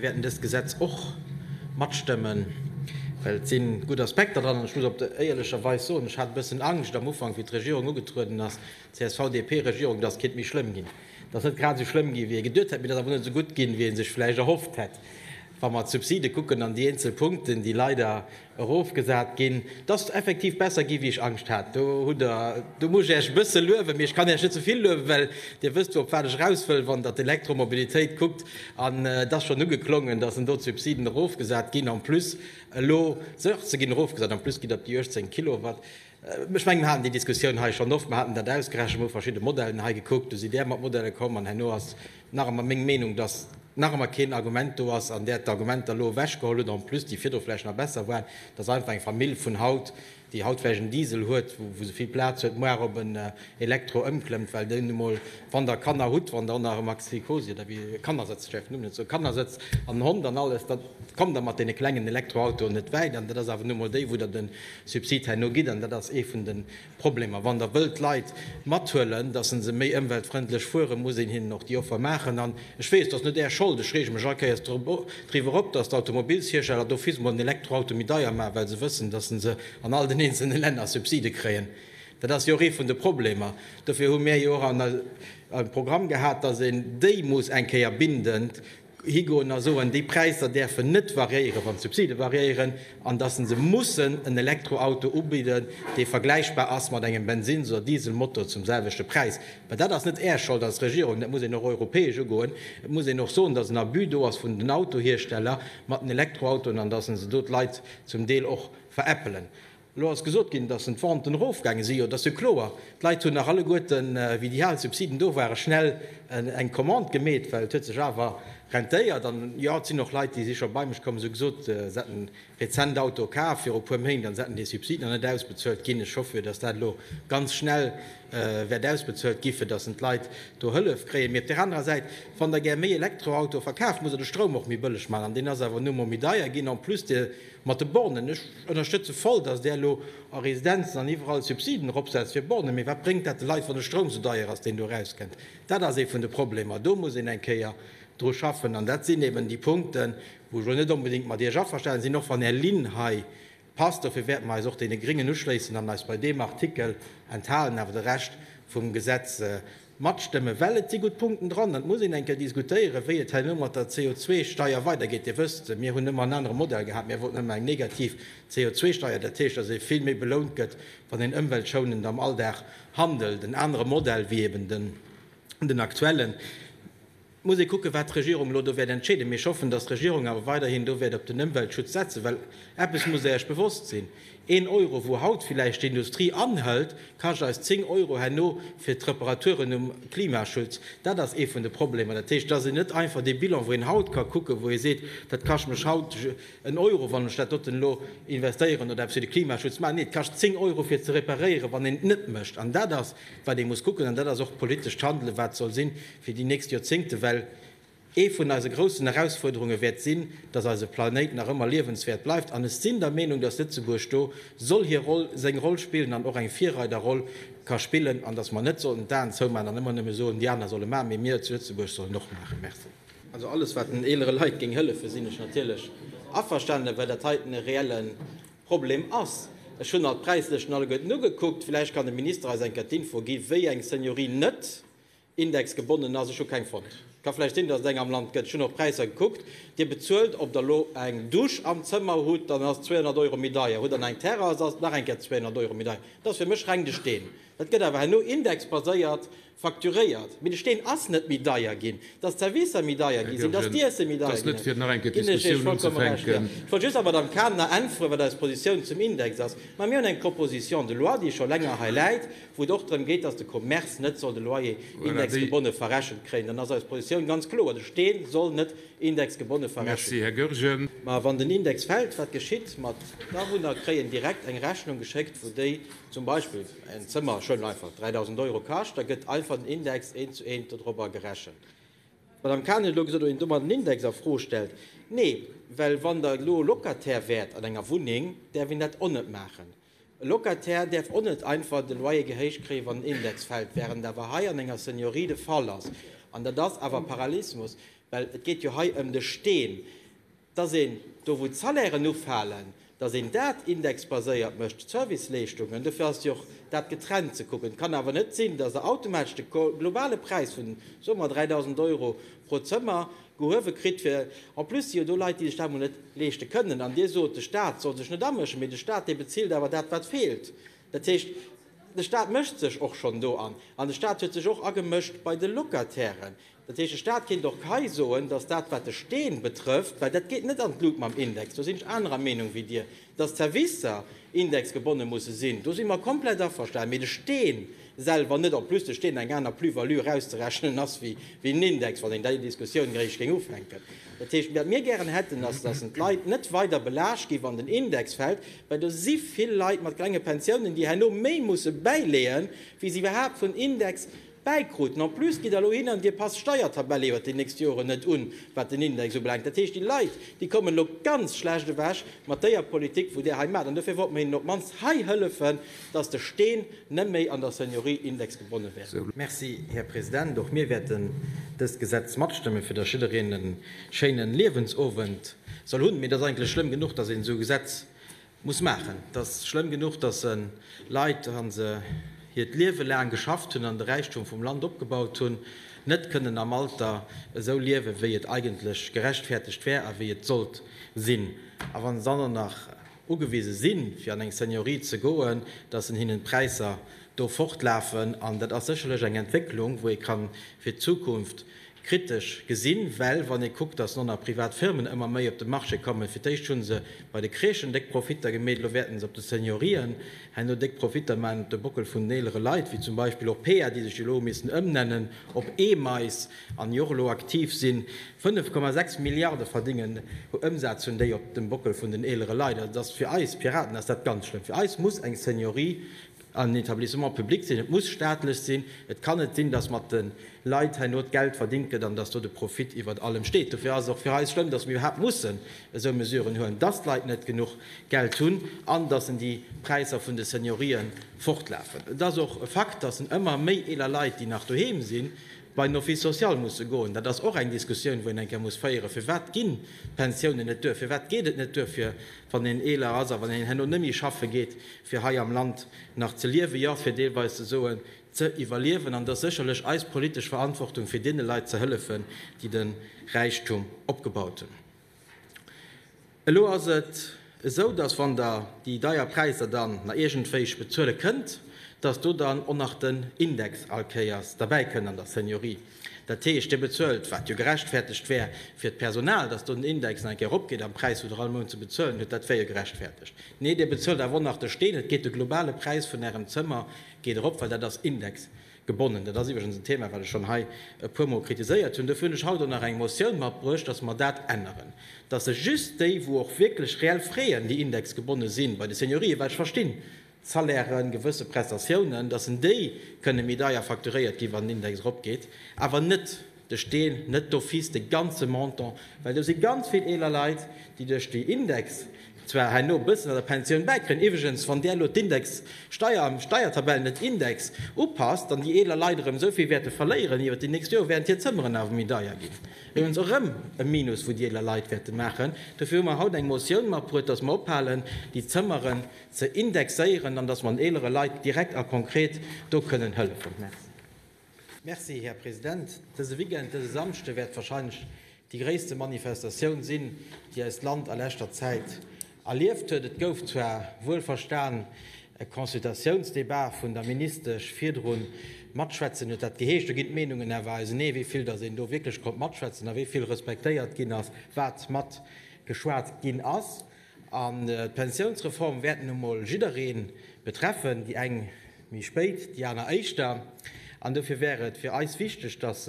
Mir wäerten dëst Gesetz och matstëmmen, well et si gutt Aspekter dran. An ech muss op der éierlecher Weis soen, ech hat e bëssen Angscht am Ufank, wéi d'Regierung ugetrueden ass, d'CSV-DP-Regierung, dass et kéint méi schlëmm ginn, dass et net grad esou schlëmm gi wéi ee geduet hätt, mee et ass awer net esou gutt ginn, wéi ee sech vläicht erhofft hätt, wa mer d'Subside kucken an déi eenzel Punkten, déi leider, erofgesat ginn, dass effektiv besser gi wéi ech Angscht hat. Do hutt Der, do muss ech Iech e bësse luewen, mee ech kann Iech net ze vill luewen, well Dir wësst jo op wat ech eraus wëll, wann Der d'Elektromobilitéit kuckt. An et ass schonn ugeklongen, dass en do d'Subsiden erofgesat ginn, en plus elo 16 ginn erofgesat, en plus gitt Der op déi 18 Kilowatt. Ech mengen, mir haten déi Diskussioun hei schonn oft. Mir haten dat ausgerechent, mir hu verschidde Modellen hei gekuckt, du si där mat Modelle komm an herno ass nach ëmmer meng Meenung, dass nach ëmmer keen Argument do ass an där d'Argumenter elo ewechgeholl hutt, en plus déi virdru vläicht nach besser waren, dass einfach eng Famill vun haut, déi haut vläicht en Diesel huet, wou se vill Plaz huet, muar op en Elektro ëmklëmmt, well deen nu mol, wann der Kanner hutt, wann der och nach e Maxi-Cosi oder wéi, Kannersëtz, Entschéifft, elo mussen ech soen, Kannersëtz an en Hond an alles, da kommt der mat deene klengen Elektroautoen net wäit an dat ass awer nu mol déi, wou der den Subsid herno gitt, an dat ass ee vun de Problemer. Wann Der wëllt d'Leit mathuelen, dass se méi ëmweltfrëndlech fueren, muss een hinnen och déi Offer maachen. An ech weess, et ass net Är Schold, ech reege mech all Kéiers driwwer op, dass d'Automobilshiersteller do fis mol en Elektroauto méi deier maachen, well se wëssen, dass se an all den eenzelne Länner Subside kréien. Dat ass jo och ee vun de Problemer. Dofir hu mir jo och am Programm gehat, dass een déi muss eng Kéier binden, higoen a soen, déi Präisser däerfen net variéieren, wann d'Subside variéieren, an datt se se mussen en Elektroauto ubidden, dee vergläichbar ass mat engem Bensins oder Dieselmotor zum selwechte Präis. Mä dat ass net Är Schold als Regierung, dat muss een och europäesch ugoen. Et muss een och soen, datt en Abus do ass vun den Autohiersteller mat den Elektroautoen an datt se do d'Leit zum Deel och veräppelen. Elo ass gesot ginn, dass en d'Venten erofgaange si, jo, et ass jo kloer, d'Leit hunn nach alleguerten, wéi déi al Subsiden do waren, schnell eng Commande gemeet, well et huet sech awer rentéiert. An jo, et sinn och Leit, déi si scho bei mech komm, se hu gesot, se hätte rezent Auto kaf viru puer Méint an se hätten déi Subsiden nach net ausbezuelt ginn. Ech hoffen jo, dass dat elo ganz schnell wäert ausbezuelt gi fir dass en d'Leit do Hëllef kréien. Mee op där anerer Säit, wann Der gär méi Elektroautoe verkaaft, muss Der de Stroum och méi bëlleg maachen an deen ass awer nu emol méi deier ginn. En plus, Dir Mat de Bornen, ech ënnerstëtze voll, dass Där elo a Residenzen an iwwerall Subsiden eropsetzt fir Bornen, mee wat bréngt dat de Leit, wann de Stroum sou deier ass, deen do erauskënnt? Dat ass ee vun de Problemer. Do muss een eng Kéier dru schaffen. An dat sinn eben déi Punkten, wou ech elo net onbedéngt mat Iech averstanen sinn, och wann Är Linn hei passt. Dofir wäerte mer eis och deene Gréngen uschléissen an eis bei deem Artikel enthalen, awer de Rescht vum Gesetz Matstëmme well. Et si gutt Punkten dran an et muss een eng Kéier diskutéieren, wéi et herno mat der CO2-Steier weidergeet. Dir wësst, mir hunn ëmmer en anere Modell gehat. Mir wollten ëmmer eng negativ CO2-Steier, dat heescht, datt ee vill méi belount gëtt, wann een ëmweltschounend am Alldag handelt. En anere Modell wéi eben den aktuellen. Et muss ee kucken, wat d'Regierung elo do wäert entscheeden. Mee ech hoffen, datt d'Regierung awer weiderhin do wäert op den Ëmweltschutz setzen. Well eppes musst Der Iech bewosst sinn, Een Euro, wou haut villäicht d'Industrie anhëlt, kascht eis zéng Euro herno fir d'Reparaturen um Klimaschutz. Dat ass ee vun de Problemer. Dat heescht, et ass een net einfach dee Bilan, wou een haut ka kucken, wou ee seet, dat kascht mech haut en Euro, wann ech dat doten elo investéieren oder eppes fir de Klimaschutz maachen. Nee, et kascht zéng Euro fir ze reparéieren, wann een et net mécht. An dat ass, wat ee muss kucken. An dat ass och d'politescht Handelen, wat soll sinn. fir déi nächst Joerzéngte, well ee vun eise groussen Erausfuerderunge wäert sinn, datt eise Planéit nach ëmmer liewenswäert bleift. An ech sinn der Meenung, datt Lëtzebuerg do soll hir Roll, seng Roll spillen an och eng Virreiderroll ka spillen an datt mer net sollten d'Aen zoumaachen an ëmmer nëmme soen, déi aner solle maachen, mee mir zu Lëtzebuerg sollen och maachen. Merci. Also alles, wat den eelere Leit géing hëllefen, sinn ech natierlech averstanen, well dat heiten e reelle Problem ass. Ech hunn alt d'Präislëschten alleguerten ugekuckt. Vläicht kann de Minister eis eng Kéier d'Info gi wéi eng Seniorie net Index gebonnen ass. Ech hu keng fonnt. Ka vläicht sinn, datt et eng am Land gëtt. Ech hunn och d'Präisser gekuckt. Dir bezuelt, ob der lo eng Dusch am Zëmmer hutt, dann ass 200 Euro méi deier. Hutt der nach eng Terrass, ass et nach eng Kéier 200 Euro méi deier. Dat ass fir mech reng de Steen. Dat gëtt awer herno indexbaséiert facturéiert. Mee de Steen ass net méi deier ginn. Datt d'Servicer méi deier gi sinn, datt d'Iessen méi deier ginn ass, ginn ech Iech vollkomme Recht. Jo, ech wollt just der Madame Cadener äntweren, wat eis Positioun zum Index ass. Mä mir hunn eng Proposition de loi, déi scho länger hei läit, wou et och drëm geet, dass de Commerce net soll de Loyer indexgebonne verrechent kréien, dann ass eis Positioun ganz kloer, De Steen soll net indexgebonne verrechent kréien. Mä wann den Index fält, wat geschitt? Ma d'Awunner kréien direkt eng Rechnung geschéckt, wou déi zum Beispill en Zëmmer, ech huelen einfach, 3.000 Euro kascht, da gëtt einfach den Index eent zu eent dodrobber gerechent. D'Madame Cahen huet elo gesot, ob een domat den Index a Fro stellt. Nee, well wann Der elo Locataire wäert an enger Wunneng, däerf een dat onnet maachen. E Locataire däerf och net einfach de Loyer gehéicht kréien, wann den Index fält, während awer hei an enger Seniorie de Fall ass, an dat ass awer Parallelismus, well et geet jo hei ëm de Steen, dass een do, wou d'Salairen ufalen, dass een dat indexbaséiert mécht, d'Serviceleeschtungen. Dofir ass jo och dat getrennt ze kucken. Et kann awer net sinn, dass Der automatesch de globale Präis vun, soe mer, 3.000 Euro pro Zëmmer, Gehuewe kritt, fir en plus si jo do Leit, déi sech dat mol net leeschte kënnen. An Dir sot, de Staat soll sech net amëschen, mee de Staat, dee bezilt awer dat, wat feelt. Dat heescht, de Staat mëscht sech och schonn do an. An de Staat huet sech och agemëscht bei de Locatairen. Dat heescht, de Staat kéint och hei soen, dass dat, wat de Steen betrëfft, well dat geet net an d'Lut mam Index, do sinn ech anerer Meenung wéi Dir, dass d'Servicer indexgebonne musse sinn, do si mer komplett averstanen, mee de Steen, selwer net, en plus de Steen eng aner Plus-value erauszerechnen ass wéi en Index, wann een déi Diskussioun eréischt géing ufänken. Dat heescht, wat mir gären hätten, ass, datt een d'Leit net weider belaascht, déi an den Index fält, well do si vill Leit mat klenge Pensiounen, déi herno méi musse bäileeën, wéi se iwwerhaapt vun Index bäikruten. En plus gitt Der elo hin an Dir passt d'Steiertabell iwwert déi nächst Joren net un, wat den Index ubelaangt. Dat heescht, déi Leit, déi kommen elo ganz schlecht ewech mat déier Politik, wou Der hei maacht. An dofir wollt mer hinnen op d'mannst hei hëllefen, dass de Steen net méi an der Seniorie indexgebonne wäert. Merci, Här President. Och mir wäerten dëst Gesetz matstëmmen, fir dass jiddereen e schéinen Liewensowend soll hunn. Mee et ass eigentlech schlëmm genuch, dass een esou e Gesetz muss maachen. Et ass schlëmm genuch, dass en Leit, wa se hiert Liewe laang geschafft hunn an de Räichtum vum Land opgebaut hunn, net kënnen am Alter esou liewen, wéi et eigentlech gerechtfertegt wär a wéi et sollt sinn. A wa se dann och nach ugewise sinn, fir an eng Seniorie ze goen, dass en hinnen d'Präisser do fortlafen. An dat ass sécherlech eng Entwécklung, wou ee kann fir d'Zukunft kritesch gesinn, well wann ee kuckt, dass non a privat Firmen ëmmer méi op de Marché kommen, fir d'éischt hu se bei de Crèchen déck Profitter gemeet, elo wäerten se op de Seniorien herno déck Profitter maachen op de Bockel vun den eelere Leit, wéi zum Beispill och Pear, déi sech jo elo hu missen ëmnennen op Emeis. an jo och elo aktiv sinn, 5,6 Milliarde verdéngen, Ëmsaz hunn déi op dem Bockel vun den eelere Leit. Also, et ass fir eis Piraten ass dat ganz schlëmm. Fir eis muss eng Seniorie en Etablissement public sinn, et muss staatlech sinn. Et kann net sinn, datt mat de Leit herno d'Geld verdingt gëtt an datt do de Profit iwwert allem steet. Dofir ass et och fir eis schlëmm, datt mir iwwerhaapt mussen esou Mesuren huelen, datt d'Leit net genuch Geld hunn an datt en déi Präisser vun de Seniorië fortlafen. Et ass och e Fakt, datt en ëmmer méi eeler Leit, déi nach doheem sinn, bei den Office social musse goen. Dat ass och eng Diskussioun, wou een eng Kéier muss féieren, Firwat ginn d'Pensiounen net duer? Firwat geet et net duer, fir, wann een eeler ass a wann een herno net méi schaffe geet, fir hei am Land nach ze liewen, jo, fir deelweis ze soen, ze iwwerliewen? An et ass sécherlech eis politesch Verantwortung, fir deene Leit ze hëllefen, déi de Räichtum opgebaut hunn. Elo ass et esou, dass, wann Der déi deier Präisser dann na iergendwéich bezuele kënnt, dass do dann och nach den Index allkéiers derbäi kënnt an der Seniorie. Dat heescht, Dir bezuelt, wat jo gerechtfertegt wär fir d'Personal, dass do den Index nach eng Kéier eropgeet am Präis, wou Der all Mount ze bezuelen hutt, dat wär jo gerechtfertegt. Nee, Dir bezuelt awer och nach de Steen, et geet de globale Präis vun Ärem Zëmmer geet erop, well dat ass Index. Gebonnen. Dat ass iwwregens en Thema, wat ech schonn hei e puermol kritiséiert hunn. Dofir hunn ech haut och nach eng Motioun matbruecht, dass mer dat änneren, dass sech just déi, wou och wierklech reell freeën, déi indexgebonne si bei de Seniorië, well ech verstinn Salairen, gewësse Prestatiounen, dass en déi kënne méi deier facturéiert gi wann den Index eropgeet, awer net, de Steen net d'office de ganze Montant, well do si ganz vill eeler Leit, déi duerch déi Index zwar herno e bëssen an der Pensioun bäikréien, iwwregens, wann där elo d'Indexsteier an d'Steiertabell net Index upasst, dann déi eeler Leit erëm esou vill wäerte verléieren iwwer déi nächst Joer, wärend hir Zëmmeren awer méi deier ginn. Iwwregens och erëm e Minus, wou déi eeler Leit wäerte maachen. Dofir hu mer haut eng Motioun matbruet, dass mer ophalen, déi Zëmmeren ze indexéieren an dass mer den eelere Leit direkt a konkret do kënnen hëllefen. Merci. Merci, Här President. Dëse Weekend, dëse Samschde, wäert wahrscheinlech déi gréisste Manifestatioun sinn, déi eist Land a leschter Zäit erlieft huet. Et gouf zwar wuelverstan e Consultatiounsdebat vun der Ministesch virdru matschwätzen, huet dat geheescht. Do ginn d'Meenungen awer ausenee, wéi vill datt een do wierklech konnt matschwätzen a wéi vill respektéiert ginn ass, wat matgeschwat ginn ass. An d'Pensiounsreform wäert nun emol jidderee betreffen, déi eng méi spéit, déi aner éischter. An dofir wär et fir eis wichteg, dass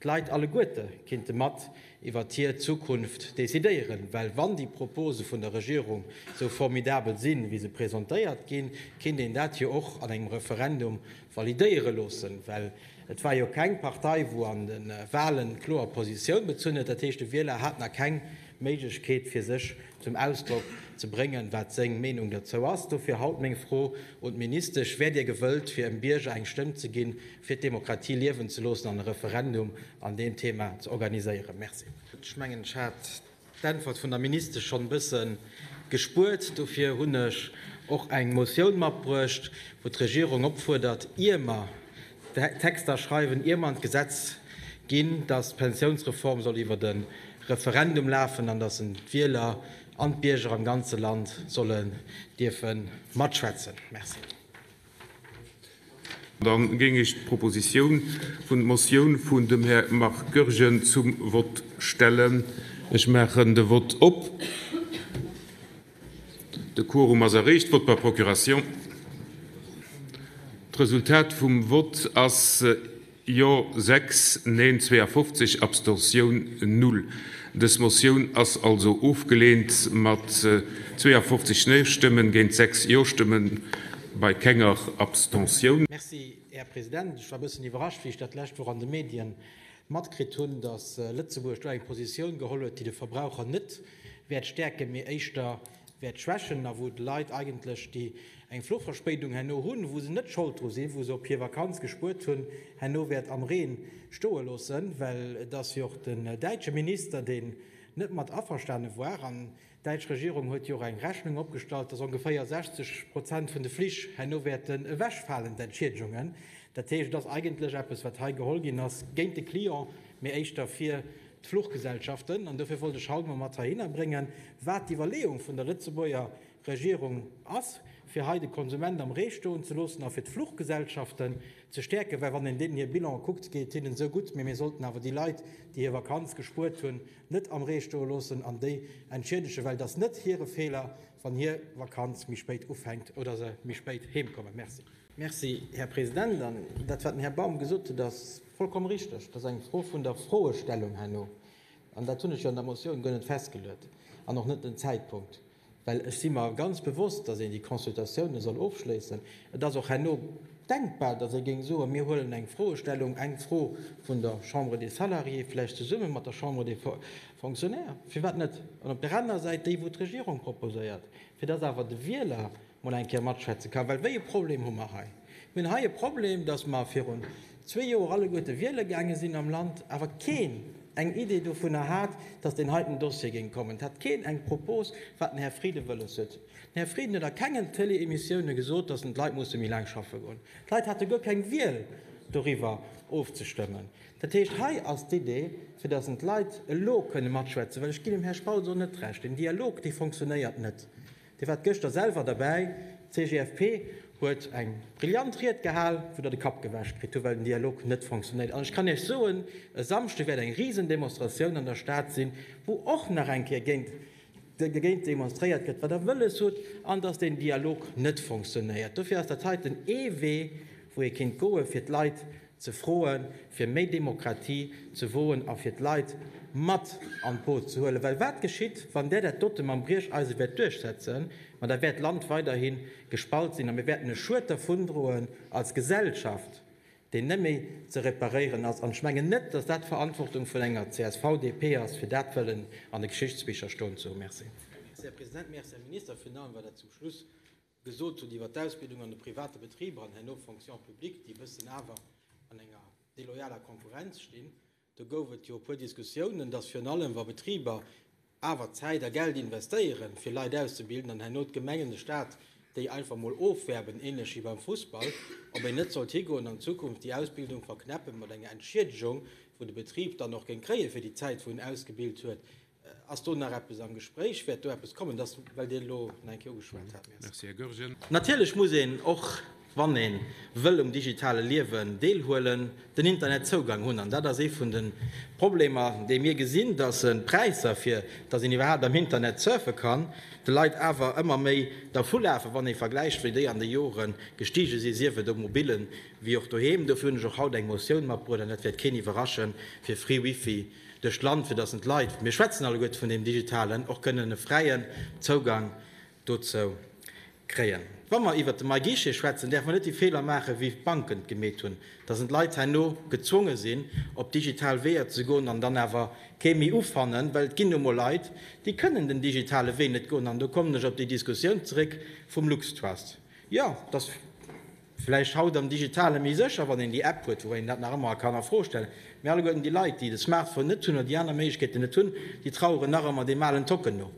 d'Leit alleguerte kinnte mat iwwert hir Zukunft decidéieren. Well wann déi Propose vun der Regierung esou formidabel sinn, wéi se presentéiert ginn, kinnt een dat jo och an engem Referendum validéiere loossen. Well et war jo keng Partei, wou an de Wahlen kloer Positioun bezunn huet. Dat heescht, de Wieler hat nach keng Méiglechkeet fir sech zum Ausdrock ze bréngen, wat seng Meenung derzou ass. Dofir haut meng Fro un d'Ministesch, Wäert Dir gewëllt fir em Bierger eng Stëmm ze ginn, fir d'Demokratie liewen ze loossen an e Referendum an deem Thema ze organiséieren? Merci. Ech mengen ech hat d'Äntwert vun der Ministesch schonn e bësse gespuert. Dofir hunn ech och eng Motioun matbruecht, wou d'Regierung opfuerdert, ier mer Texter schreiwen, ier mer an d'Gesetz ginn, dass d'Pensiounsreform soll iwwert e Referendum lafen an dass d'Wieler an d'Bierger am ganze Land sollen dierfe matschwätzen. Merci. Dann géing ech d'Proposition vun der Motioun vun dem Här Marc Goergen zum Vott stellen. Ech maachen de Vott op. De Quorum ass erreecht. Vote par procuration. D'Resultat vum Vott ass Jo 6, Neen 52, Abstention null. Dës Motioun ass also ofgeleent mat 52 Neen-Stëmmen géint 6 Jo-Stëmmen bei kenger Abstention. Merci, Här President. Ech war e bëssen iwwerrascht, wéi ech dat d'lescht Woch an de Medien matkritt hunn, dass Lëtzebuerg do eng Positioun geholl huet, déi de Verbraucher net wäert stäerken, mee éischter wäert schwächen a wou d'Leit eigentlech, déi eng Fluchverspéidung herno hunn, wou se net Schold dru sinn, wou se op hir Vakanz gespuert hunn, herno wäert am Reen stoe loossen, well et ass jo och den däitsche Minister, deen net mat averstane war. An d'däitsch Regierung huet jo och eng Rechnung opgestallt, dass ongeféier 60 Prozent vun de Flich herno wäerten ewechfalen, d'Entschiedegunge. Dat heescht, et ass eigentlech eppes, wat hei geholl ginn ass, géint de Client, mee éischter fir d'Fluchgesellschaften, an dofir wollt ech haut emol mat heihinner bréngen, wat d'Iwwerleeung vun der Lëtzebuerger Regierung ass, fir hei de Konsument am Ree stoen ze loossen a fir d'Fluchgesellschaften ze stäerken, well wann een deenen hir Bilanë kuckt, geet et hinnen esou gutt, mee mir sollten awer déi Leit, déi hir Vakanz gespuert hunn, net am Ree stoe loossen an déi entschiedegen, well et ass net hire Feeler, wann hir Vakanz méi spéit ufänkt oder se méi spéit heemkommen. Merci. Merci, Här President. An dat, wat den Här Baum gesot huet, ass, Vollkomm richteg. Dat ass eng Fro vun der Froestellung herno. An dat hunn ech jo an der Motioun guer net festgeluet an och net den Zäitpunkt, well ech si mer ganz bewosst, dass een déi Consultatiounen soll ofschléissen. Et ass och herno denkbar, dass ee géing soen, mir huelen eng Froestellung, eng Fro vun der Chambre des Salariés, vläicht zesumme mat der Chambre des Fonctionnaires, firwat net, an op där anerer Säit déi, wou d'Regierung proposéiert, fir dass awer de Wieler mol eng Kéier matschwätze kann. Well wéi e Problem hu mer hei? Mir hunn hei e Problem, dass mer virun zwee Joer alleguerte wiele gaange sinn am Land, awer keen eng Idee dovunner hat, dass deen heiten Dossier géing kommen. Et hat keen eng Propos, wat den Här Frieden wëlles huet. Den Här Frieden huet a kengen Tëlee-Emissioune gesot, dass en d'Leit musse méi laang schaffe goen. D'Leit hate guer keng Wiel, doriwwer ofzestëmmen. Dat heescht, hei ass d'Idee, fir dass en d'Leit elo kënne matschwätzen, well ech ginn dem Här Spautz och net Recht, deen Dialog, dee fonctionnéiert net. Dir waart gëschter selwer derbäi, d'CGFP huet eng brillant Ried gehal, wou Der de Kapp gewäsch kritt hutt, well den Dialog net fonctionéiert. An ech kann Iech soen, e Samschde wäert eng Risendemonstratioun an der Stad sinn, wou och nach eng Kéier dergéint demonstréiert gëtt, wat Der wëlles hutt an dass deen Dialog net fonctionéiert. Dofir ass dat heiten ee Wee, wou ee kéint goen, fir d'Leit, ze froen, fir méi Demokratie ze woen a fir d'Leit mat an d'Boot ze huelen. Well wat geschitt, wann där dat dote mam Briecheisen wäert duerchsetzen? Ma da wäert d'Land weiderhi gespalt sinn a mir wäerten e Schued dervundroen als Gesellschaft, deen net méi ze reparéieren ass. An ech mengen net, dass dat d'Verantwortung vun enger csv, DP ass, fir dat wëllen an de Geschichtsbicher stoen ze hunn. Merci. Merci, Här President. Merci, Här Minister, virun allem, well Der zum Schluss gesot hunn iwwer d'Ausbildung an de private Betriber an herno Fonction publique, déi e bëssen awer an enger deloyaler Konkurrenz stinn, do gouf et jo e puer Diskussiounen, dass virun allem wa Betriber awer Zäit a Geld investéieren, fir Leit auszebilden, an herno d'Gemengen, de Stat déi einfach mol ofwärben, ähnlech wéi beim Fussball, ob een net sollt higoen an Zukunft déi Ausbildung verknäppen mat enger Entschiedegung, wou de Betrib dann och géing kréien, fir déi Zäit, wou en ausgebilt huet. Ass do nach eppes am Gespréich? Wäert do eppes kommen? Dat ass, well Dir elo nach eng Kéier ugeschwat hat. Merci. Natierlech muss een och, wann ee wëll um digitale Liewen deelhuelen, den Internetzougang hunn. An dat ass ee vun de Problemer, déi mir gesinn, dass d'Präisser, fir dass een iwwerhaapt am Internet surfe kann, de Leit awer ëmmer méi dervulafen, wann ee vergläicht, wéi déi an de Jore gestige sinn, sief et um Mobilen wéi och doheem. Dofir hunn ech och haut eng Motioun matbruecht, an dat wäert keen iwwerraschen, fir Free Wifi duerch d'Land, fir dass en d'Leit, mir schwätzen alleguerte vun deem Digitalen, och kënnen e fräien Zougang dozou kréien. Wa mer iwwert de MyGuichet schwätzen, däerfe mer net déi Feeler maachen, wéi d'Banken et gemeet hunn, dass en d'Leit herno gezwonge sinn, op digital Weeër ze goen an dann awer kee méi ufannen, well et ginn nu mol Leit, déi kënnen den digitale Wee net goen. An do kommen ech op déi Diskussioun zeréck vum LuxTrust. Jo, dass. Vläicht haut am Digitale méi sécher, wann een déi App huet, woubäi een dat nach ëmmer kann a Fro stellen. Mee alleguerten déi Leit, déi de Smartphone net hunn oder déi aner Méiglechkeeten net hunn, déi traueren nach ëmmer deem alen Tocken no.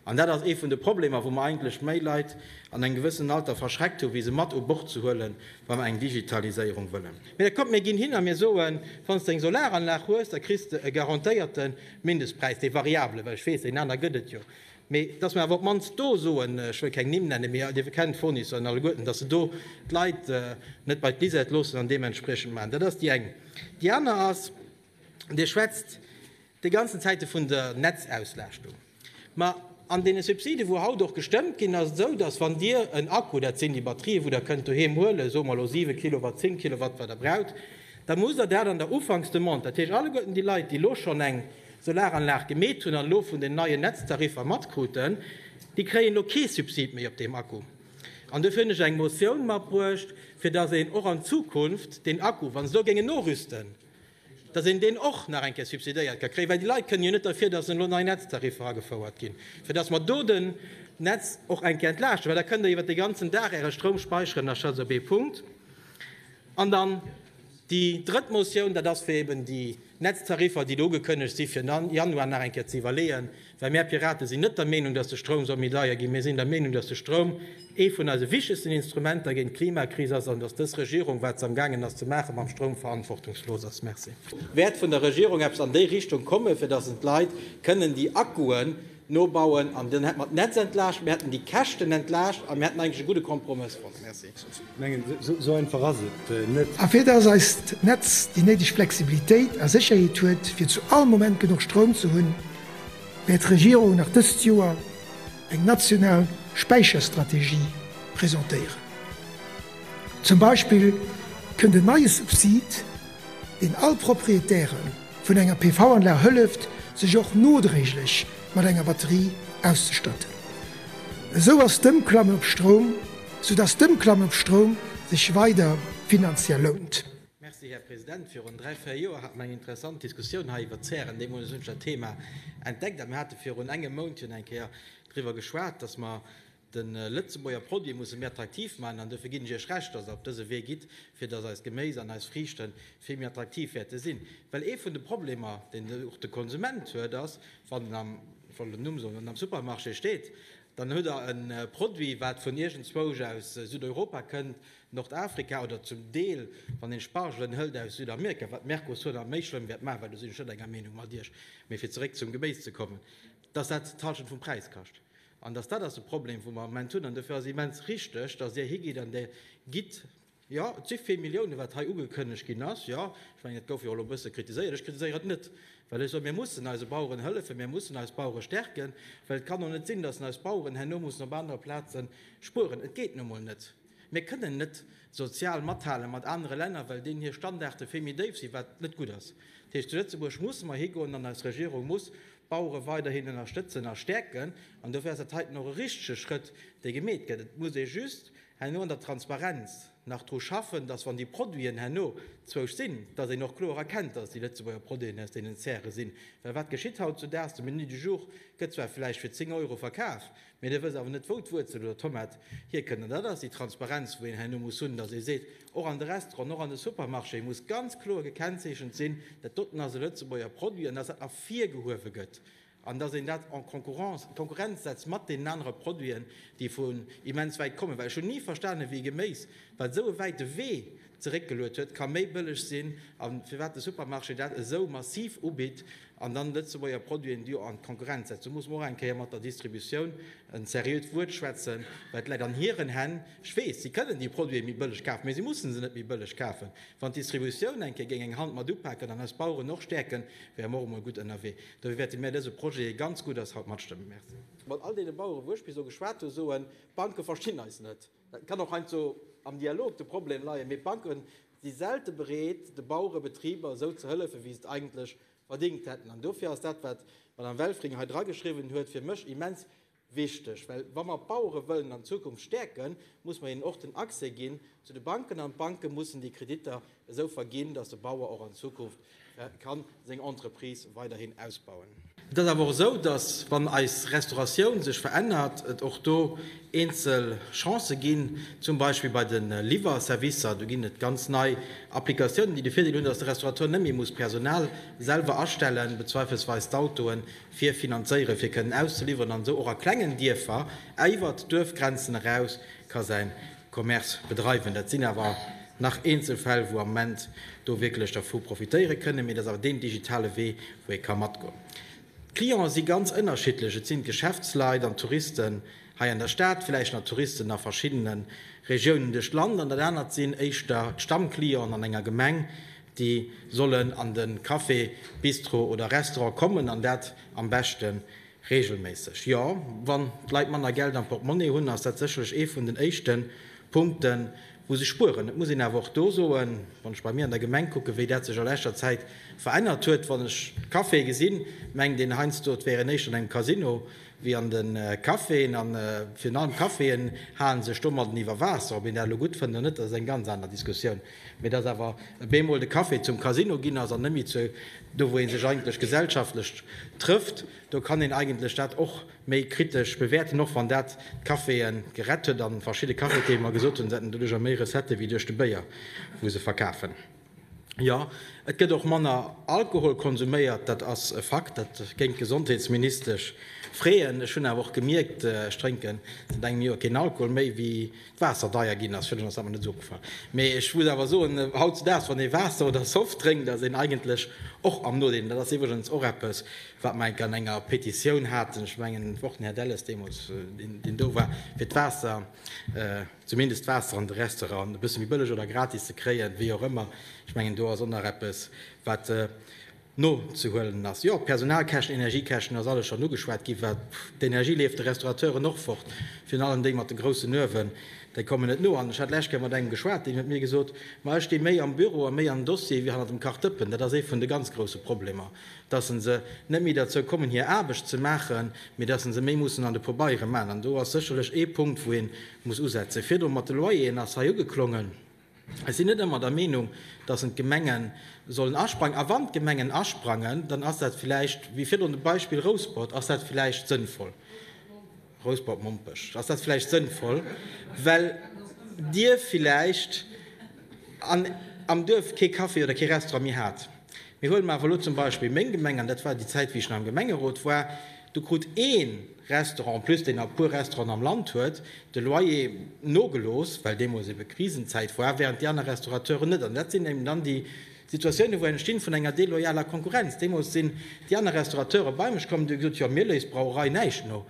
An dat ass ee vun de Problemer, wou mer eigentlech méi Leit an engem gewëssenen Alter verschreckt hu wéi se mat u Bord ze huele wa mer eng Digitaliséierung wëllen. Mee da kommt, mir ginn hin a mir soen, wann s de eng Solaranlag hues, da kriss de e garantéierten Mindestpräis, dee variabele, well ech weess, deen aner gëtt et jo, Mee dass mer awer op d'mannst do soen, ech wëll keng Nimm nennen, mee Dir kennt d'Fournisseur an alleguerten, dass se do d'Leit net bei d'Bisette loossen an deementspriechend maachen. Dat ass déi eng. Déi aner ass, Dir schwätzt déi ganzen Zäite vun der Netzauslastung. Ma an deene Subsiden, wou haut och gestëmmt ginn, ass et esou, dass wann Dir en Akku, dat sinn déi Batterië wou Der kënnt doheem huelen, soe mer elo siwe Kilowatt, zéng Kilowatt, wat Der braucht, da musst Der dat an der Ufanksdemande, dat heescht alleguerten déi Leit, déi elo schonn eng Solaranlag gemeet hunn an elo vun den neien Netztariffer matkruten, déi kréien elo kee Subsid méi op deem Akku. An dofir hunn ech eng Motioun matbruecht, fir datt een och an Zukunft deen Akku, wa se elo géingen norüsten, datt een deen och nach eng Kéier subsidéiert ka kréien, well déi Leit kënnen jo net derfir, datt elo nei Netztariffer agefouert ginn, fir datt mer do den Netz och eng Kéier entlaaschten, well da kënnt Der iwwert de ganzen Dag Äre Stroum speicheren. Dat ass also ee Punkt. An dann déi drëtt Motioun, dat ass, fir eben déi Netztariffer, déi do ugekënnegt si fir Januar nach eng Kéier ze iwwerleeën, well mär Piraten sinn net der Meenung, datt de Stroum soll méi deier ginn. Mir sinn der Meenung, datt de Stroum ee vun eise wichtegsten Instrumenter géint d'Klimakris ass an datt dës Regierung, wat se amgaangen ass ze maachen mam Stroum, verantwortungslos ass. Merci. Wäert vun der Regierung eppes an déi Richtung kommen, fir datt en d'Leit kënnen déi Akkuen, Nobauen an dann hätte mer d'Netz entlaascht, mir hätten déi Käschten entlaascht a mir hätten eigentlech e gudde Kompromëss fonnt. Merci. Esou einfach ass et net. A fir dass eist Netz déi néideg Flexibilitéit a Sécherheet huet, fir zu all Moment genuch Stroum ze hunn, wäert d'Regierung nach dëst Joer eng national Späicherstrategie presentéieren. Zum Beispill kënnt en neie Subsid, deen all Proprietären, vun enger PV-Anlag hëlleft, sech och nodréiglech mat enger Batterie auszestatten. Esou ass d'Ëmklamme op Stroum, sou dass d'Ëmklamme op Stroum sech weider finanziell lount. Merci, Här President. Virun dräi, véier Joer hate mer eng interessant Diskussioun hei iwwert Zären. Deemools hunn ech dat Thema entdeckt a mir hate virun engem Mount jo eng Kéier driwwer geschwat, dass mer, De Lëtzebuerger Produit musse mir attraktiv maachen an dofir ginn ech Iech Recht, dass Der op dëse Wee gitt, fir dass eist Geméis an eis Friichte vill méi attraktiv wäerte sinn. Well ee vun de Problemer, deen och de Konsument huet, ass, wann en am, ech wollt en Numm soen, wann en am Supermarché steet, dann huet Der e Produit, wat vun iergendzwousch aus Südeuropa kënnt, Nordafrika oder zum Deel, wann een Spargelen hëlt, aus Südamerika, wat d'Mercosur nach méi schlëmm wäert maachen, well do sinn ech net enger Meenung mat Iech. Mee fir zeréck zum Geméis ze kommen, dass dat d'Hallschent vum Präis kascht. An dass dat ass de Problem, wou mer am Moment hunn. An dofir ass et immens richtig, dass Dir higitt an Dir gitt, jo, et si vill Milliounen, wat hei ugekënnegt ginn ass, jo, ech mengen, et gouf jo och elo e bësse kritiséiert, ech kritiséieren et net, well ech soen, mir mussen eise Baueren hëllefen, mir mussen eis Bauere stärken, well et kann och net sinn, dass eis Baueren herno mussen op anere Plaze spueren. Et geet nu emol net. Mir kënnen net sozial mathale mat anere Länner, well deenen hir Standarde vill méi déif sinn, wat net gutt ass. Dat heescht, zu Lëtzebuerg musse mer higoen an eis Regierung muss D'Bauere weiderhin ënnerstëtzen a stäerken. An dofir ass dat heiten och e richtege Schrëtt, dee gemeet gëtt. Et muss ee just herno an der Transparenz nach dru schaffen, datt, wann déi Produiten herno zwousch sinn, datt een och kloer erkennt, datt et déi Lëtzebuerger Produiten aus deenen Zäre sinn. Well wat geschitt hautzudaags? De Menu du jour gëtt zwar vläicht fir 10 Euro verkaf, Mee da wëss awer net wou d'Wuerzel oder d'Tomat hierkënnt. An dat ass déi Transparenz wou een herno muss hunn, datt ee seet, och an de Restauranten, och an de Supermarchéë muss ganz kloer gekennzeechent sinn, dat doten ass e Lëtzebuerger Produit an datt dat ervirgehuewe gëtt an datt een dat en concurrence, Konkurrenz setzt mat deenen anere Produiten, déi vun immens wäit kommen. Well ech hunn ni verstanen, wéi Geméis, wat esou e wäite Wee zeréckgeluet huet, ka méi bëlleg sinn a firwat de Supermarché dat esou massiv ubitt an dann Lëtzebuerger Produiten do an d'Konkurrenz setzt. Do muss mer och eng Kéier mat der Distributioun en seriöt Wuert schwätzen, well et läit an hiren Hänn. Ech weess, si kënnen déi Produite méi bëlleg kafen, mä si mussen se net méi bëlleg kafen. Wann d'Distributioun eng Kéier géing eng Hand mat upaken an eis Baueren och stäerken, wäre mer och emol gutt ënnerwee. Dofir wäerte mär dëse Projet, dee ganz gutt ass, haut matstëmmen. Merci. Mat all deene Baueren, wou ech bis elo geschwat hu, soen, D'Banke verstinn eis net. Et kann och heiansdo am Dialog de Problem leien, mee d'Banke si selte bereet, de Bauere Betriber esou ze hëllefen, wéi se et eigentlech verdingt hätten. An dofir ass dat, wat d'Madame Welfring hei drageschriwwen huet, fir mech immens wichteg. Well wa mer d'Bauere wëllen an Zukunft stäerken, muss mer hinnen och den Accès ginn zu de Banken an d'Banke mussen déi Kreditter esou verginn, datt de Bauer och an Zukunft kann seng Entreprise weiderhin ausbauen. Et ass awer och esou, datt wann eis Restauratioun sech verännert, et och do eenzel Chancen ginn, zum Beispill bei de Liwwerservicer. Do ginn et ganz nei Applikatiounen, déi de Virdeel hunn, datt de Restaurateur net méi muss Personal selwer astellen, bezweifelsweis d'Autoen fir finanzéieren, fir kënnen auszeliwweren, an esou och a klengen Dierfer iwwert d'Duerfgrenzen eraus ka säin Commerce bedreiwen. Dat sinn awer nach eenzel Fäll, wou am Moment do wierklech dervu profitéiere kënnen, mee dat ass awer deen digitale Wee, wou ee ka matgoen. D'Clienten si ganz ënnerschiddlech, et sinn d'Geschäftsleit an d'Touristen hei an der Stad, villäicht nach Touristen a verschiddene Regiounen duerch d'Land, an dat anert sinn éischter d'Stammclienten an enger Gemeng, déi sollen an de Café, Bistro oder Restaurant kommen an dat am beschte Reegelméisseg, jo. Wann d'Leit manner Geld am Portemonnaie hunn, ass dat sécherlech ee vun den éischte Punkten, wou se spueren. Et muss een awer och do soen, wann ech bei mir an der Gemeng kucken, wéi dat sech a leschter Zäit verännert huet, wann ech d'Caféë gesinn, mengt een heiansdo, et wären éischter an engem Casino wéi an de Caféen. A virun allem d'Caféen hale sech domadden iwwer Waasser. Ob een dat elo gutt fënnt oder net, dat ass eng ganz aner Diskussioun. Mee dass awer e bemol de Café zum Casino ginn ass an net méi zu do wou ee sech eigentlech gesellschaftlech trëfft, do kann een eigentlech dat och méi kritesch bewäerten, och wann dat d'Caféë gerett huet a verschidde Cafetiere mer gesot hunn, se hätten doduercher méi Recettë wéi duerch de Béier wou se verkafen. Jo, et gëtt och manner Alkohol konsuméiert, dat ass e Fakt, dat géing d'Gesondheetsministesch freeën. Ech hunn awer och gemierkt, ech drénken säit engem Joer keen Alkohol méi, wéi Waasser deier ginn ass, fir ass awer net esou opgefall. Mee ech muss awer soen, hautzedaags, wann ee Waasser oder Soft drénkt, ass een eigentlech och am Nodeel. Dat ass iwwregens och eppes, wat mer enk an enger Petitioun haten, ech mengen och den Här Delles deemools, deen do war, fir d'Waasser, zumindest d'Waasser an de Restauranten e bësse méi bëlleg oder gratis ze kréien, wéi och ëmmer. Ech mengen, do ass och nach eppes, wat. nozehuelen ass. Jo, Personalkäschten, Energiekäschten, ass alles schonn ugeschwat ginn, wat d'Energie leeft de Restaurateuren och fort, virun allem déi mat de groussen Uewen, déi kommen net no. An ech hat d'lescht Kéier mat engem geschwat, deen huet mir gesot, ma ech sti méi am Büro a méi am Dossier wéi hannert dem Kachdëppen. Dat ass ee vun de ganz grousse Problemer, dass se net méi derzou kommen hir Aarbecht ze maachen, mee dass se méi mussen an de Pobeiere man. An do ass sécherlech ee Punkt wou ee muss usetzen. Virdru mat de Loyeren ass hei ugeklongen. Ech sinn net ëmmer der Meenung, dass en d'Gemenge sollen asprangen. A wann d'Gemengen asprangen, dann ass dat villäicht, wéi virdrun de Beispill Rouspert, ass dat villäicht sënnvoll, Rouspert-Mompech, ass dat villäicht sënnvoll, well Dir villäicht an am Duerf kee Café oder kee Restaurant méi hat. Mee huele mer awer elo zum Beispill meng Gemeng, an dat war déi Zäit, wéi ech nach am Gemengerot war, do krut ee, Restaurant, en plus deen a puer Restauranten am Land huet de Loyer nogelooss, well deemools ebe Krisenzäit war, während déi aner Restaurateuren net. An dat sinn eben dann déi Situatiounen, wou entstinn vun enger deloyaler Konkurrenz. Deemools sinn déi aner Restaurateure bei mech komm an hu gesot, jo, mir léisst d'Brauerei näischt no,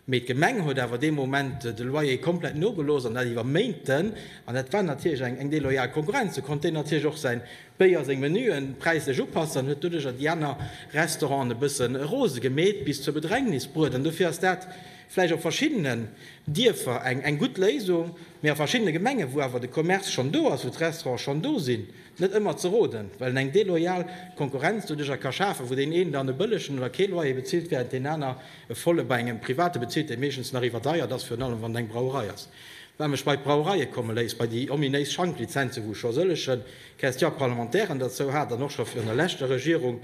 mee d'Gemeng huet awer dee Moment de Loyer komplett nogelooss an dat iwwer Méinten an dat war natierlech eng deloyal Konkurrenz. Do konnt deen natierlech och säin Béier seng Menuen präislech upassen an huet doduercher déi aner Restauranten e bësse rose gemeet, bis zur Bedrängnis bruet. An dofir ass dat vläicht op verschiddenen Dierfer eng gutt Léisung, mee a verschiddene Gemengen, wou awer de Commerce schonn do ass, wou d'Restaurante schonn do sinn, net ëmmer ze roden, well en eng deloyal Konkurrenz doduercher ka schafen, wou deen een dann e bëllegen oder kee Loyer bezilt, während deen aner e volle bei engem Private bezilt, dee meeschtens nach iwwerdeiert ass, virun allem wann et eng Brauerei ass. Wat mech bei d'Brauereie komme léisst, bei déi ominéis Schanklizenzen, wou ech scho sëlleche Question parlementairen derzou hat an och scho virun der leschter Regierung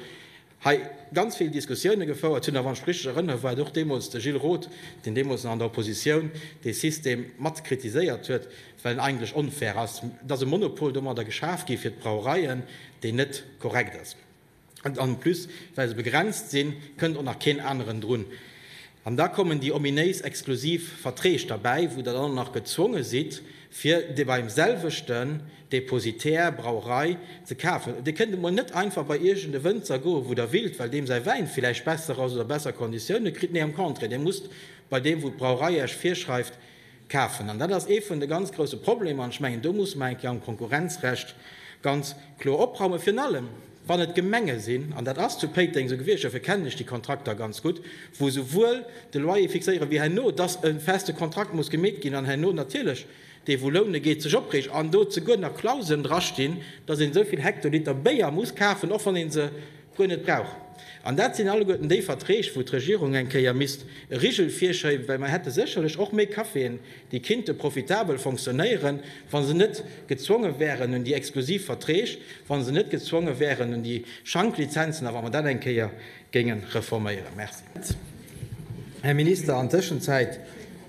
hei ganz vill Diskussioune gefouert hunn, a wann ech richtig erënnere war et och deemools de Gilles Roth, deen deemools nach an der Oppositioun dee System mat kritiséiert huet, well en eigentlech onfair ass. Et ass e Monopol domadder geschaf gi fir d'Brauereien, deen net korrekt ass. En plus, well se begrenzt sinn, kënnt och nach keen aneren drun. An da kommen déi ominéis exklusiv Verträg derbäi, wou Der dann och nach gezwonge sidd, fir dee beim selwechten Depositär, Brauerei, ze kafen. Dir kënnt emol net einfach bei iergend e Wënzer goen, wou Der willt, well deem säi Wäin villäicht besser ass oder besser Konditioune kritt. Nee, am Contraire, Dir musst bei deem, wou d'Brauerei Iech virschreift, Kafen. An dat ass ee vun de ganz grouse Problemer. An ech mengen, do musse mer eng Kéier am Konkurrenzrecht ganz kloer opraumen, virun allem wann et Gemenge sinn, an dat ass zu Péiteng esou gewiescht, dofir kennen ech déi Kontrakter ganz gutt, wou esouwuel de Loyer fixéieren, wéi herno, dass e feste Kontrakt muss gemeet ginn an herno natierlech dee wou loune geet, sech opreegt an do zeguer nach Klauseln drastinn, dass een esou vill Hektoliter Béier muss kafen, och wann ee se guer net brauch. An dat sinn alleguerten déi Verträg, wou d'Regierung eng Kéier misst e Rigel virschéiben, well mer hätte sécherlech och méi Caféen, déi kinnte profitabel fonctionnéieren, wa se net gezwonge wären un déi exklusiv Verträg, wa se net gezwonge wären un déi Schanklizenzen a wa mer dat eng Kéier géinge reforméieren. Merci. Här Minister, an Tëschenzäit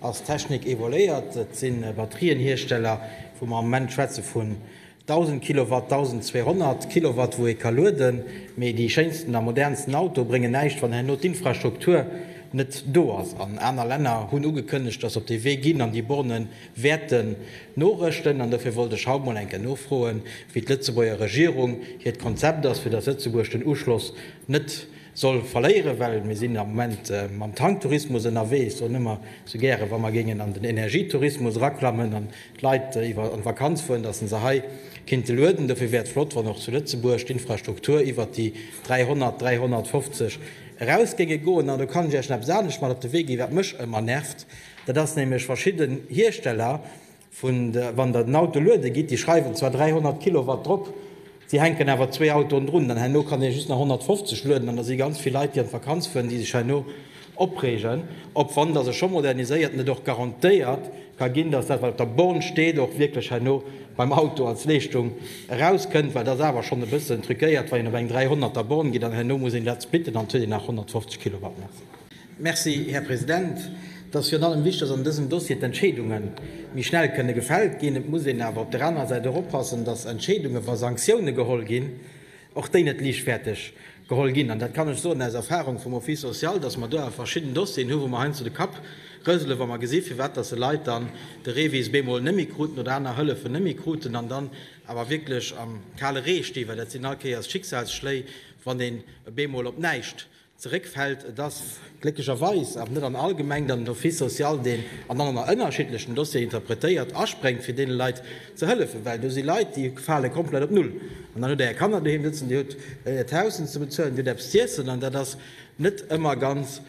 ass d'Technik évoluéiert. Et si Batterienhiersteller, wou mer am Moment schwätze vu 1000 Kilowatt, 1200 Kilowatt wou ee ka lueden, mee déi schéinsten a modernsten Auto bréngen näischt wann herno d'Infrastruktur net do ass. An aner Länner hunn ugekënnegt, datt se op dee Wee ginn an déi Borne wäerte norëschten. An dofir wollt ech haut mol eng Kéier nofroen, wéi d'Lëtzebuerger Regierung hiert Konzept ass, fir datt Lëtzebuerg den Uschloss net soll verléieren, well mir sinn am Moment mam Tanktourismus ënnerwee. Ech soen ëmmer sou gäre wa mer géingen an den Energietourismus eraklammen, d'Leit iwwer an d'Vakanz fueren, dass se se hei kinnte lueden. Dofir wär et flott, wann och zu Lëtzebuerg d'Infrastruktur iwwert déi 300, 350 eraus géinge goen. An do kann ech Iech nach eppes anescht mat op de Wee ginn, wat mech ëmmer nervt, dat ass nämlech verschidden Hiersteller, wann Der den Auto luede gitt, déi schreiwen zwar 300 Kilowatt drop, Si hänken awer zwee Autoen drun, dann herno kann ee just nach 150 lueden an da si ganz vill Leit, déi an d'Vakanz fueren, déi sech herno opreegen, ob wann dass e scho moderniséiert an et och garantéiert ka ginn, dass dat wat op der Born steet och wierklech herno beim Auto als Leeschtung erauskënnt, well et ass awer schonn e bëssen truquéiert, wann een op eng 300 er Born geet an herno muss een dat splitten an huet een nach 150 Kilowatt. Merci. Merci, Här President. Et ass virun allem wichtig, dass an dësem Dossier d'Entscheedunge méi schnell kënne gefält ginn. Et muss een awer op der anerer Säit och oppassen, dass Entscheedungen, wa Sanktioune geholl ginn, och déi net liichtfäerteg geholl ginn. An dat kann ech soen aus Erfahrung vum Office social, dass mer do awer verschidden Dossieren hunn, wou mer heiansdo de Kapp rëselen, wa mer gesinn, firwat dass e Leit dann de REVIS bemol net méi kruten oder aner Hëllefen net méi kruten an dann awer wierklech am kale Ree stinn, well dat sinn all Kéiers Schicksalsschléi, wann een bemol op näischt zeréckfält. Et ass glécklecherweis awer net an all Gemeng, datt den Office social deen an allen ënnerschiddlechen Dossieren interpretéiert, aspréngt fir deene Leit ze hëllefen, well do si Leit, déi fale komplett op Null. An dann hutt Der Är Kanner doheem sëtzen, Dir hutt Äert Haus ze bezuelen, Dir hutt eppes z'iessen, an dat ass net ëmmer ganz,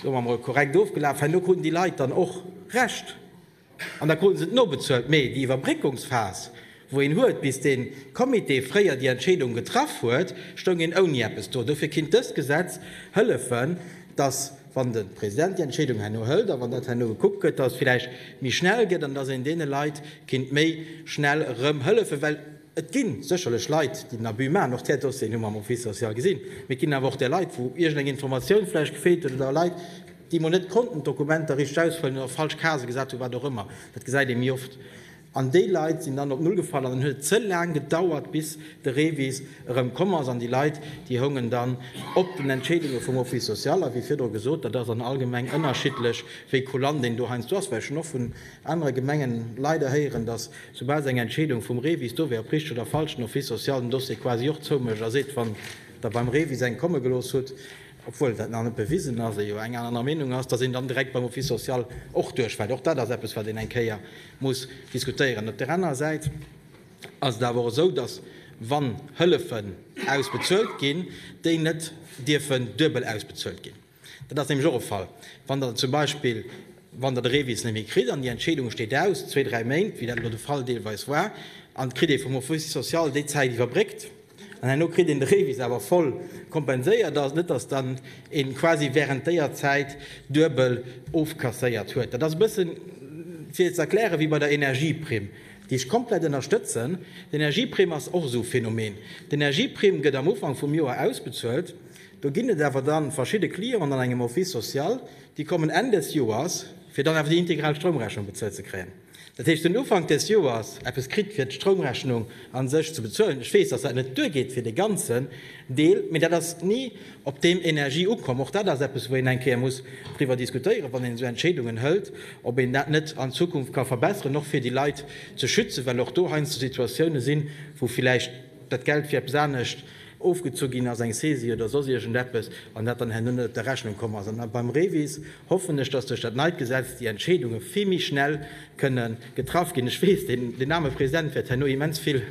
soe mer emol, korrekt ofgelaf. Herno kruten déi Leit dann och Recht. An da kruten se et nobezuelt. Mee déi Iwwerbréckungsphas, wou een huet, bis dee Comité fréier déi Entscheedung getraff huet, stoung een ouni eppes do. Dofir kinnt dëst Gesetz hëllefen, dass, wann de President déi Entscheedung herno hëlt a wann dat herno gekuckt gëtt, dass et vläicht méi schnell gëtt an dass een deene Leit kinnt méi schnell erëm hëllefen. Well et gi sécherlech Leit, déi den Abus maachen. Och där Dossieren hu mer am Office social gesinn. Mee et ginn awer och där Leit, wou iergendeng Informatioun vläicht gefeelt huet oder Leit, déi mol net konnten d'Dokumenter richteg ausfëllen oder falsch Case gesat hunn, wat och ëmmer, dat gesäit ee méi oft, an déi Leit sinn dann op Null gefall an dann huet et ze laang gedauert, bis de Revis erëm komm ass an déi Leit, déi houngen dann op den Entscheedunge vum Office social. A wéi virdru gesot, dat ass an all Gemeng ënnerschiddlech, wéi kulant een do heiansdo ass, well ech hunn och vun anere Gemengen leider héieren, datt soubal se eng Entscheedung vum Revis do wär, ob richteg oder falsch, den Office social den Dossier quasi och zoumécht a seet, wann Der beim Revis eng komme gelooss hutt, obwuel dat nach net bewisen ass, ee jo eng aner Meenung ass, datt een dann direkt beim Office social och duerchfält. Och dat ass eppes, wat een eng Kéier muss diskutéieren. Op där anerer Säit ass et awer och esou, datt, wann Hëllefen ausbezuelt ginn, déi net dierfen duebel ausbezuelt ginn. Dat ass nämlech och e Fall, wann Der zum Beispill, wann Der de Revis net méi kritt an déi Entscheedung steet aus, zwee, dräi Méint, wéi dat elo de Fall deelweis war, an et kritt ee vum Office social déi Zäit iwwerbréckt, An herno kritt een de Revis awer voll kompenséiert. Ass net, dass dann een quasi während déier Zäit duebel ofkasséiert huet. Dat ass e bëssen fir ze erklären wéi bei der Energieprimm, déi ech komplett ënnerstëtzen. D'Energieprimm ass och esou e Phänomen. D'Energieprimm gëtt am Ufank vum Joer ausbezuelt. Do ginn et awer dann verschidde Clienten an engem Office social, déi kommen Enn des Joers, fir dann awer déi integral Stroumrechnung bezuelt ze kréien. Dat heescht, den Ufank des Joers eppes kritt, fir d'Stroumrechnung a sech ze bezuelen. Ech weess, dass dat net duergeet fir dee ganzen Deel, mee dat ass ni op deem Energie ukomm. Och dat ass eppes, wou een eng Kéier muss driwwer diskutéieren, wann een esou Entscheedungen hëlt, ob een dat net an Zukunft ka verbesseren, och fir déi Leit ze schützen, well och do heiansdo Situatiounen sinn, wou villäicht dat Geld fir eppes anescht ofgezu ginn ass, eng Saisie oder soss iergendeppes, an dat dann herno net op der Rechnung komm ass. An beim REVIS hoffen ech, dass duerch dat neit Gesetz déi Entscheedunge vill méi schnell kënne getraff ginn. Ech weess, deen aarme President wäert herno immens vill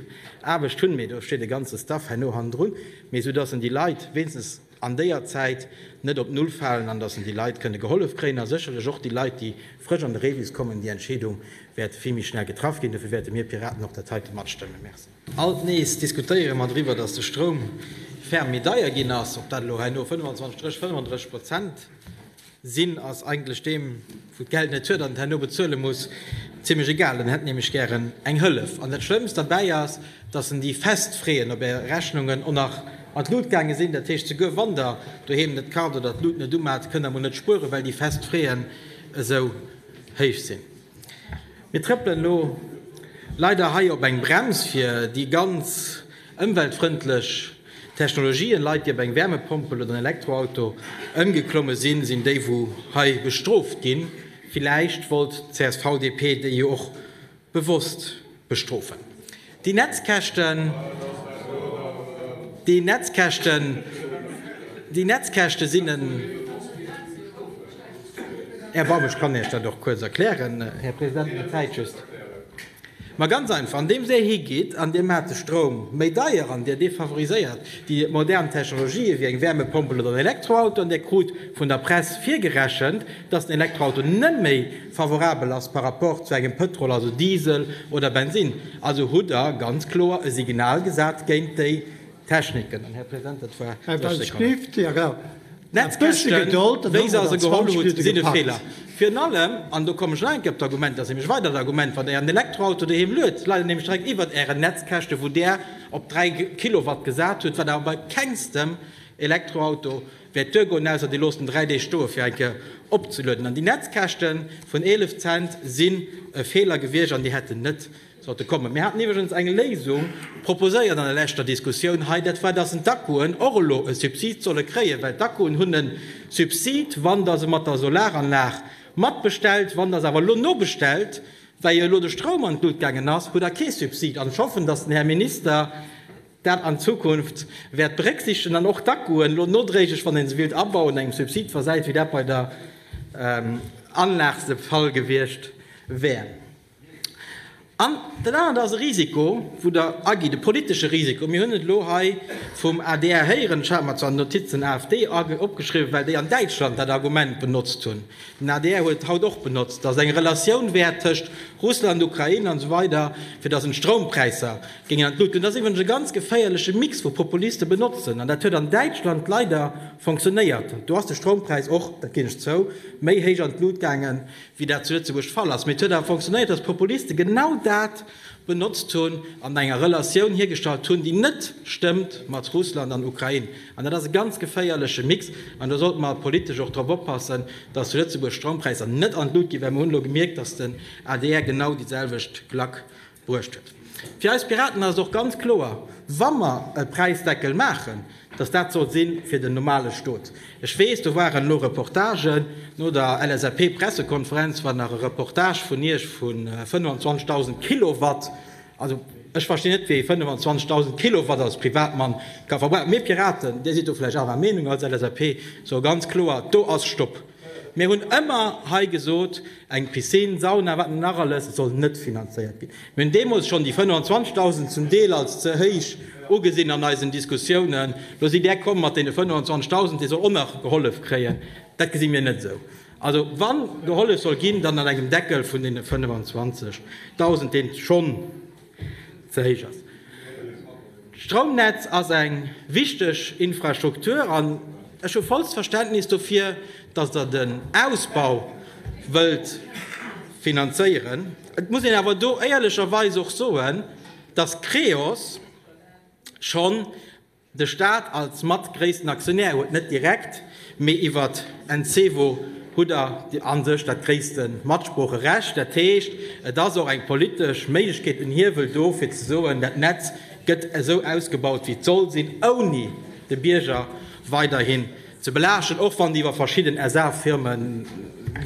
Aarbecht hunn, mee do steet e ganze Staff herno hannendrun, mee esou dass en déi Leit wéinstens an déier Zäit net op Null falen an dass en déi Leit kënne gehollef kréien a sécherlech och déi Leit, déi frësch an de Rebus kommen, déi Entscheedung wäert vill méi schnell getraff ginn. Dofir wäerte mir Piraten och dat heite matstëmmen. Merci. Alt nees diskutéiere mer driwwer, datt de Stroum ferm méi deier ginn ass. Ob dat elo herno 25 reg 35 Prozent sinn, ass eigentlech deem, wou d'Geld net huet an et herno bezuele muss, zimlech egal. En hätt nämlech gären eng Hëllef. An dat Schlëmmst derbäi ass, datt en déi fest Freeën op Är Rechnungen och nach an d'Lut gaange sinn. Dat heescht, souguer wann Der doheem net kart oder d'Lut net umat, kënnt Der mol net spueren, well déi fest Freeën esou héich sinn. Mir trëppelen elo leider hei op eng Brems fir déi ganz ëmweltfrëndlech Technologien. Leit déi op eng Wärmepompel oder en Elektroauto ëmgeklomme sinn, sinn déi wou hei bestrooft ginn. Villäicht wollt d'CSV-DP déi jo och bewosst Bestrofen. Déi Netzkäschten, déi Netzkäschten, déi Netzkäschte sinn en Erbarmen. Ech kann Iech dat och kuerz erklären, Här President, mä d'Zäit just. Mä ganz einfach, andeems Dir higeet an Dir maacht de Stroum méi deier an Dir defavoriséiert déi modern Technologië wéi eng Wärmepompel oder en Elektroauto an Dir krut vun der Press virgerechent, dass den Elektroauto net méi, Favorabel ass par rapport zu engem Pëtrol, also Diesel oder Bensinn. Also hutt Der ganz kloer e Signal gesat géint déi Techniken. An, Här President, dat war 30 Sekonnen. D'Netzkäschten, wéi se se geholl hutt, sinn e Feeler. Virun allem, an do kommen ech nach eng Kéier op d'Argument, dat ass nämlech e weidert Argument, wann Der Ären Elektroauto doheem luet, leit en nämlech direkt iwwert Ären Netzkäschte wou Der op 3 Kilowatt gesat hutt, wat awer bei kengstem Elektroauto Wäert d'Duer goen, ausser dir loosst en 3 Deeg stoe fir eng Kéier opzelueden. An déi Netzkäschte vun 11 Cent sinn e Feeler gewiescht an déi hätten net sollte kommen. Mir haten iwwregens eng Léisung proposéiert an der leschter Diskussioun hei, dat war, dass d'Akkuen och elo e Subsid solle kréien, well d'Akkuen hunn e Subsid, wann Der se mat der Solaranlag matbestellt. Wann Der se awer elo nobestellt, well jo elo de Stroum an d'Lut gaangen ass, hutt Der kee Subsid. An ech hoffen, dass den Här Minister, dat an Zukunft wäert berécksiichtegen an och d'Akkuen elo nodréiglech, wann ee se willt abauen, engem Subsid versäit, wéi dat bei der Anlag de Fall gewiescht wär. An dat anert ass e Risiko, wou Der agitt, e politesche Risiko. Mir hunn et elo hei vum adr héieren, ech hat mer zwar d'Notiz den AfD opgeschriwwen, well déi an Däitschland dat Argument benotzt hunn, den adr huet et haut och benotzt, datt et eng Relatioun wär tëscht Russland, Ukrain an esou weider, fir datt een d'Stroumpräisser Géing an d'Luut. An dat ass iwwregens e ganz geféierleche Mix wou Populiste benotzen. An dat huet an Däitschland leider fonctionnéiert. Do ass de Stroumpräis och, dat ginn ech zou, méi héich an d'Luut gaangen, wéi dat zu Lëtzebuerg de Fall ass. Mee et huet awer fonctionnéiert, datt d'Populiste genau dat benotzt hunn an enger Relatioun hiergestallt hunn, déi net stëmmt mat Russland an Ukrain. An dat ass e ganz geféierleche Mix. An do sollte mer politesch och drop oppassen, datt zu Lëtzebuerg d'Stroumpräisser net an d'Luut ginn, well mer hunn elo gemierkt, datt den adr genau déi selwecht Klack Bruecht huet. Fir eis Piraten ass et och ganz kloer, wa mer e Präisdeckel maachen, datt dat soll si fir den normale Stot. Ech weess, do waren elo Reportagen no der LSAP-Pressekonferenz, war nach e Reportage vun Iech vu 25.000 Kilowatt. Also, ech verstinn net, wéi ee 25.000 Kilowatt als Privatmann ka verbrauchen. Mir Piraten, Dir sidd do vläicht anerer Meenung als LSAP, soe ganz kloer, do ass Stopp! Mir hunn ëmmer hei gesot, eng Piscine, Sauna, wat net nach alles, soll net finanzéiert ginn. Mir hunn deemools schonn déi 25.000 zum Deel als ze héich ugesinn an eisen Diskussiounen. Lo sidd Där komm mat deene 25.000, dee soll och nach gehollef kréien. Dat gesi mir net esou. Also wa gehollef soll ginn, dann an engem Deckel vun deene 25.000, dee schonn, ze héich ass. D'Stroumnetz ass eng wichteg Infrastruktur an ech hu vollst Verständnis dofir, datt Der den Ausbau wëllt finanzéieren. Et muss een awer do éierlecherweis och soen, datt Creos schonn De Staat als mat gréissten Aktionär huet net direkt, mee iwwert Encevo hutt der a sech dat gréisste Matsproocherecht. Dat heescht, et ass och eng politesch Méiglechkeet, en Hiewel do, fir ze soen, dat Netz gëtt esou ausgebaut, wéi et soll sinn, ouni de Bierger weiderhin ze belaaschten. Och wann déi iwwer verschidden SA-Firme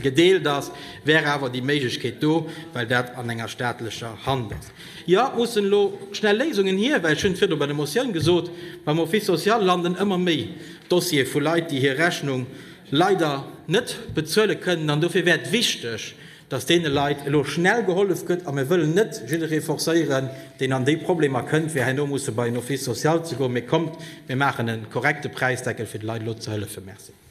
gedeelt ass, wär awer déi Méiglechkeet do, well dat an enger staatlecher Hand ass. Jo, et mussen elo schnell Léisungen hier, well, ech hunn et virdu bei der Motioun gesot, beim Office social landen ëmmer méi Dossiere vu Leit, déi hir Rechnung leider net bezuele kënnen. An dofir wär et wichteg, dass deene Leit elo schnell gehollef gëtt. A mir wëllen net jidderee forcéieren, deen an déi Problemer kënnt, fir herno musse bei en Office social ze goen. Mee kommt, mir maachen e korrekte Präisdeckel, fir de Leit elo ze hëllefen. Merci.